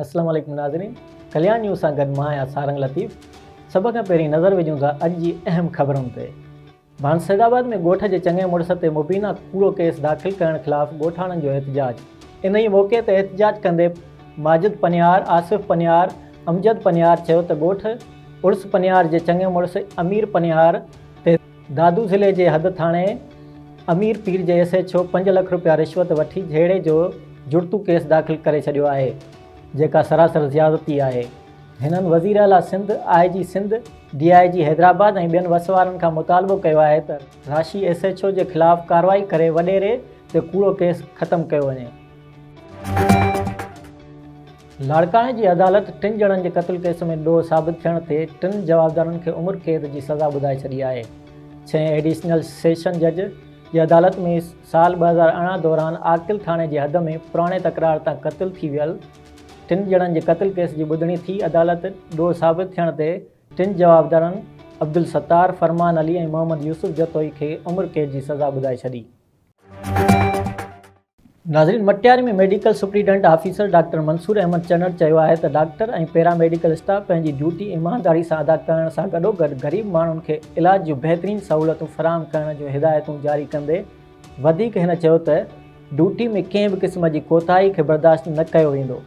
اسلام عليڪم ناظرين ڪليان نيوز سان گڏ مان آهيان سارنگ لطيف سڀ کان پهرين نظر وجهون ٿا اڄ جي اهم خبرن تي ڀان سيد آباد ۾ ڳوٺ جي چڱي مڙس تي مبينا ڪوڙو ڪيس داخل ڪرڻ خلاف ڳوٺاڻن جو احتجاج انهي موقعي تي احتجاج ڪندي ماجد پنهيار آصف پنهيار امجد پنهيار چيو ته ڳوٺ عرس پنهيار جي چڱي مڙس امير پنهيار دادو ضلعي جي حد ٿاڻي امير پير جي ايس ايڇ او پنج لک رپيا رشوت وٺي جهيڙي جو جڙتو ڪيس داخل ڪري ڇڏيو آهي جيڪا سراسر زيادتي آهي هنن وزير اعليٰ سنڌ، آء جي سنڌ، ڊي آء جي حيدرآباد ۽ ٻين وس وارن کان مطالبو ڪيو آهي ته راشي ايس ايڇ او جي خلاف ڪارروائي ڪري وڏيري تي ڪوڙو ڪيس ختم ڪيو وڃي. لاڙڪاڻي جي عدالت ٽن ڄڻن جي قتل ڪيس ۾ ڏوهه ثابت ٿيڻ تي ٽن جوابدارن کي عمر قيد جي سزا ٻڌائي ڇڏي آهي. ڇهين ايڊيشنل سيشن جج جي عدالت ۾ سال ٻه هزار ارڙهن دوران عاقل ٿاڻي جي حد ۾ پراڻي تڪرار تان قتل ٿي ويل ٽن ڄڻن جي قتل ڪيس جي ٻڌڻي ٿي عدالت ڏوهه ثابت ٿيڻ تي ٽن جوابدارن عبدالستار، فرمان علي ۽ محمد يوسف جتوئي کي عمر قيد جي سزا ٻڌائي ڇڏي. ناظرين Matiari ۾ medical superintendent officer doctor Mansoor Ahmed Chanar چيو آهي ته ڊاڪٽر ۽ پيراميڊيڪل اسٽاف پنهنجي ڊيوٽي ايمانداري سان ادا ڪرڻ سان گڏوگڏ غريب ماڻهن کي علاج جون بهترين سهولتون فراهم ڪرڻ جون هدايتون جاري ڪندي وڌيڪ هن چيو ته ڊيوٽي ۾ ڪنهن به قسم جي ڪوتاهي کي برداشت نه ڪيو ويندو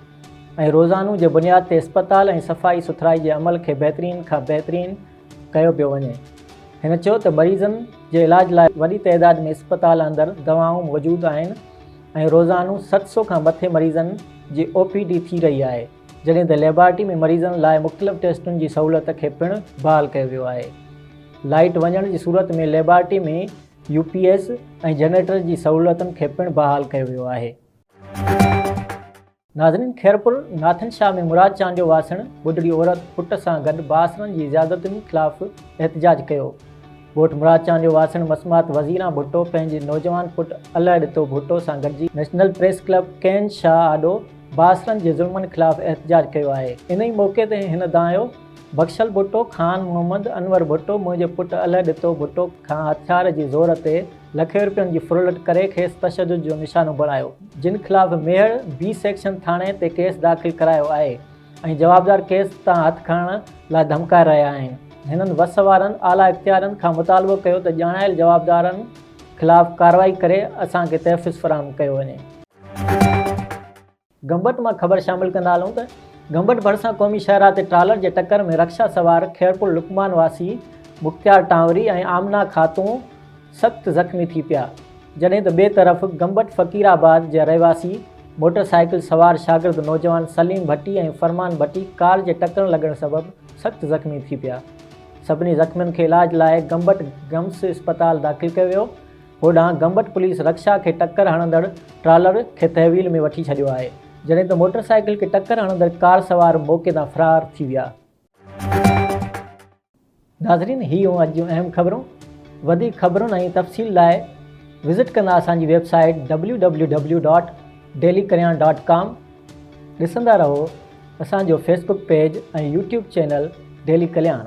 ۽ روزانو جي بنياد تي اسپتال ۽ صفائي سٿرائي جي عمل کي بهترين کان بهترين ڪيو پيو وڃي. هن چيو ته مريضن جي علاج لاء وڏي تعداد ۾ اسپتال اندر دوائون موجود آهن ۽ روزانو ست سؤ کان مٿي مريضن جي او پي ڊي ٿي رهي آهي جڏهن ته ليبارٽري ۾ مريضن لاء مختلف ٽيسٽن جي سهولت کي پڻ بحال ڪيو ويو آهي لائيٽ وڃڻ جي صورت ۾ laboratory ۾ U P S ۽ generator جي سهولتن کي پڻ بحال ڪيو ويو آهي. ناظرين خيرپور ناٿن شاهه ۾ مراد چانڊ جو واسڻ ٻڍڙي عورت پٽ سان گڏ باسرن جي زيادتين خلاف احتجاج ڪيو ڳوٺ مراد چانڊ جو واسڻ مسمات وزيران ڀٽو پنهنجي نوجوان پٽ الهه ڏتو ڀٽو سان گڏجي نيشنل پريس ڪلب ڪين شاهه آڏو باسرن جي ظلمن خلاف احتجاج ڪيو آهي انهي موقعي تي هن دانهيو بخشل ڀٽو خان محمد انور ڀٽو منهنجي پٽ الهه ڏتو ڀٽو کان هٿيار جي زور تي لکين رپين جي ڦرلٽ ڪري کيس تشدد جو نشانو بڻايو جن خلاف ميهڙ بي سيڪشن ٿاڻي تي ڪيس داخل ڪرايو آهي ۽ جوابدار ڪيس تان هٿ کڻڻ لاء ڌمڪائي رهيا آهن هنن وس وارن اعليٰ اختيارين کان مطالبو ڪيو ته ڄاڻايل جوابدارن خلاف ڪارروائي ڪري اسان کي تحفظ فراهم ڪيو وڃي. گمبٽ مان خبر شامل ڪندا هلون ته گمبٽ ڀرسان قومي شاهراهه تي ٽرالر جي ٽڪر ۾ رڪشا سوار خيرپور لقمان واسي مختيار ٽانوري ۽ آمنه خاتون سخت زخمي ٿي پيا جڏهن ته ٻئي طرف گمبٽ فقير آباد جا رهواسي موٽر سائيڪل سوار شاگرد نوجوان سليم ڀٽي ۽ فرمان ڀٽي ڪار جي ٽڪر لڳڻ سبب سخت زخمي ٿي پيا سڀني زخمين کي علاج لاء گمبٽ گمس اسپتال داخل ڪيو ويو هوڏانهن گمبٽ پوليس رڪشا کي ٽڪر هڻندڙ ٽرالر کي تحويل ۾ وٺي ڇڏيو آهي جڏهن ته موٽر سائيڪل کي ٽڪر هڻندڙ ڪار سوار موقعي تان فرار ٿي ويا. ناظرين هي هيون اڄ جون اهم خبرون وڌيڪ خبرن ۽ تفصيل لاء وزٽ ڪندا اسان جي website www dot daily Kalyan dot com ڏسندا رهو اسان جو Facebook page ۽ YouTube channel daily Kalyan.